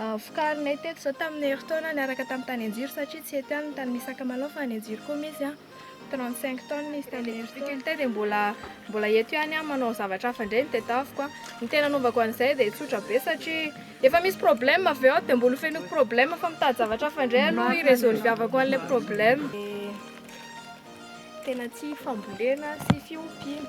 Vokarinay teto izao tamin'ny herintaona niaraka tamin'ny tany Anjiro satria tsy eto ihany ny tany misy sakamalao fa any Anjiro koa misy, trente cinq tonnes izy tamin'ny herintaona. Ilay difficulté dia mbola mbola eto ihany aho manao zavatra hafa indray no tedaviko. Ny tena anaovako an'izay dia tsotra be satria efa misy problème avy eo dia mbola hofenoiko problème fa mitady zavatra hafa indray aloha hi-resolviavako an'ilay problème. Dia tena tsy fambolena sy fiompiana.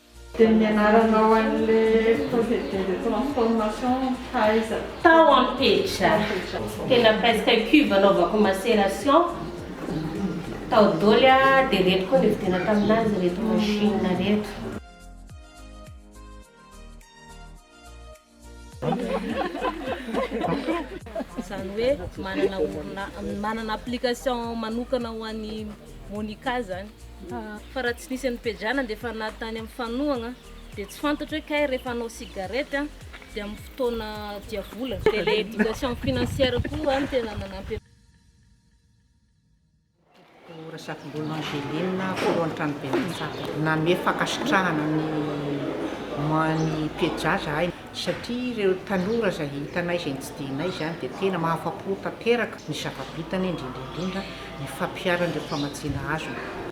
Dia ny anaranao an'le procédé de transformation taiza? Tao am petra. Tena presque cube anaovako macération tao doly a, dia reto koa nividiana taminazy reto machine reto. Izany hoe manana orina- manana application manokana ho an'i Monica izany. Fa raha tsy nisy an'i Pejana dia efa na tany amin'ny fanohagna dia tsy fantatro hoe kay rehefa hanao cigarette an dia amin'ny fotoana diavolana. Dia ilay éducation financière koa no tena nanampy anay. Doctor Razafimbolo Angeline, Filohan'ny Tranoben'ny Mpitsara. Nanome fankasitrahana ny moan'i Pieja zahay satria ireo tanora izay hitanay izay nitsidihina izany dia tena mahafa-po tanteraka ny zava-bitany indrindra indrindra ny fampiharany ireo famatsiana azony.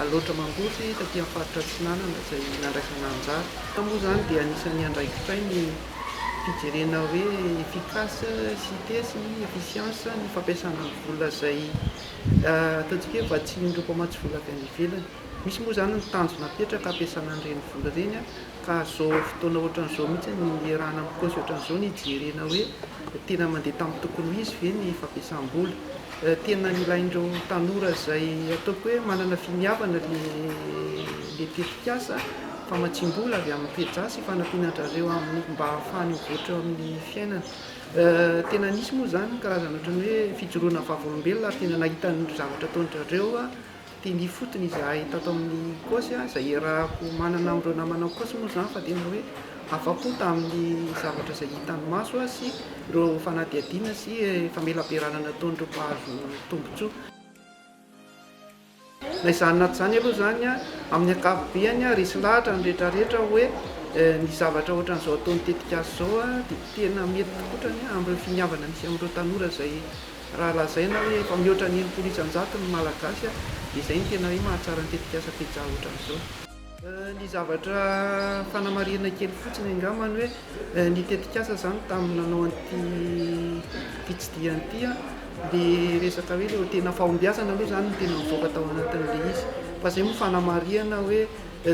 Alaotra Mangosy taty amin'ny faritra Atsinanana izay nandraisana anjara. Fa moa izany dia anisan'ny andraikitray ny fijerena hoe efficace sy tes ny efficience ny fampiasana ny vola izay ataontsika hoe vatsian'ireo mpamatsy vola avy any ivelany. Misy moa izany ny tanjona apetraka hampiasana an'ireny vola ireny Ka zao fotoana ohatran'izao mihitsy ny iarahana amin'ny paosy ohatran'izao ny hijerena hoe tena mandeha tamin'ny tokony ho izy ve ny fampiasam-bola. Tena ilain'ireo tanora izay ataoko hoe manana finiavana le tetikasa famatsiam-bola avy amin'ny Feja sy fanampiana an-drareo amin'ny mba hahafahany mivoatra eo amin'ny fiainana. Tena nisy moa izany ny karazana ohatran'ny hoe fijoroana vavolombelona ary tena nahita ny zavatra ataon-drareo aho. Tena ifotony izahay tato amin'ny Ecosy, izay iarahako manana amin'ireo namana Ecosy moa izany fa tena hoe afa-po tamin'ny zavatra izay hitan'ny maso sy ireo fanadihadiana sy famelabearana nataon'ireo mpahazo tombontsoa. Na izany na tsy izany aloha izany, amin'ny ankapobeny, resy lahatra ny rehetrarehetra hoe ny zavatra ohatran'izao ataon'ny tetikasa izao dia tena mety tokotrany amin'ireo finiavana misy amin'ireo tanora izay Raha lazaina hoe efa mihoatra ny enimpolo isan-jato ny Malagasy dia izay no tena hoe mahatsara ny tetikasa Pizza hoatran'izao. Ny zavatra fanamarihana kely fotsiny angambany hoe ny tetikasa izany tamin'ny nanao an'ity fitsidihana ity dia resaka hoe ilay tena fahombiazana aloha izany no tena nivoaka tao anatin'ilay izy fa izay moa fanamarihana hoe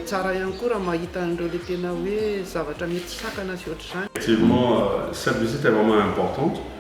tsara ihany koa raha mahita an'ireo ilay tena hoe zavatra mety sakana sy ohatr'izany. Effectivement, cette visite est vraiment importante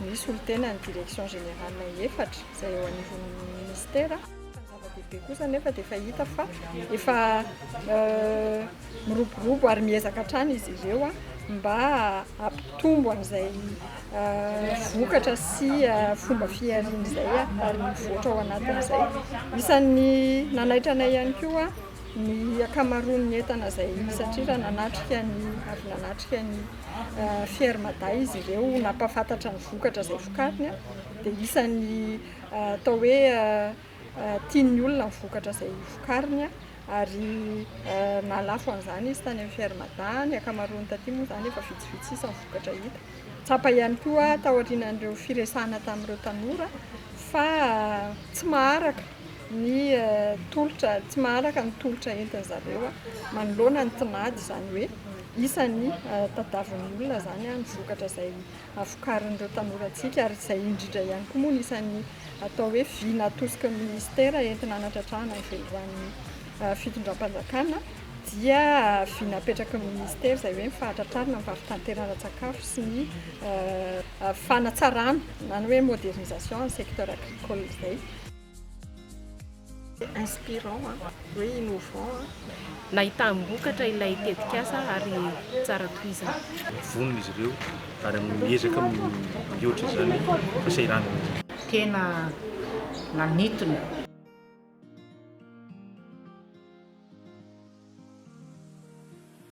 ny solontenan'ny Direction Générale efatra izay eo anivon'ny Ministera. Ny zava-dehibe kosa anefa dia efa hita fa efa miroborobo ary miezaka hatrany izy ireo mba hampitombo an'izay vokatra sy fomba fihariana izay ary mivoatra ao anatin'izay. Isan'ny nanaitra anay ihany koa ny ankamaroan'ny entana izay satrira nanatrika ny avy nanatrika ny Fier Mada izy ireo nampahafantatra ny vokatra izay vokariny dia isan'ny atao hoe tian'ny olona ny vokatra izay vokariny ary nahalafo an'izany izy tany amin'ny Fier Mada, ny ankamaroany taty moa izany efa vitsivitsy sisa ny vokatra hita. Tsapa ihany koa taorian'ireo firesahana tamin'ireo tanora fa tsy maharaka ny tolotra, tsy maharaka ny tolotra entin-dry zareo manoloana ny tinady izany hoe. Iza ny tadiavin'ny olona izany ny vokatra izay vokarin'ireo tanorantsika ary izay indrindra ihany koa moa no isan'ny atao hoe vy natosiky ny minisitera entina hanatratrahana ny velirano fitondram-panjakana dia vy napetraky ny minisitera izay hoe ny fahatratrarana ny varotanteran-tsakafo sy ny fanatsarana na ny hoe modernisation ny secteur agricole izay. inspirant an! hoe innovant an! nahitam-bokatra ilay tetikasa ary tsara tohizana. Vonona izy ireo ary miezaka mihoatra izany fasahiranana izany. Tena nanitona.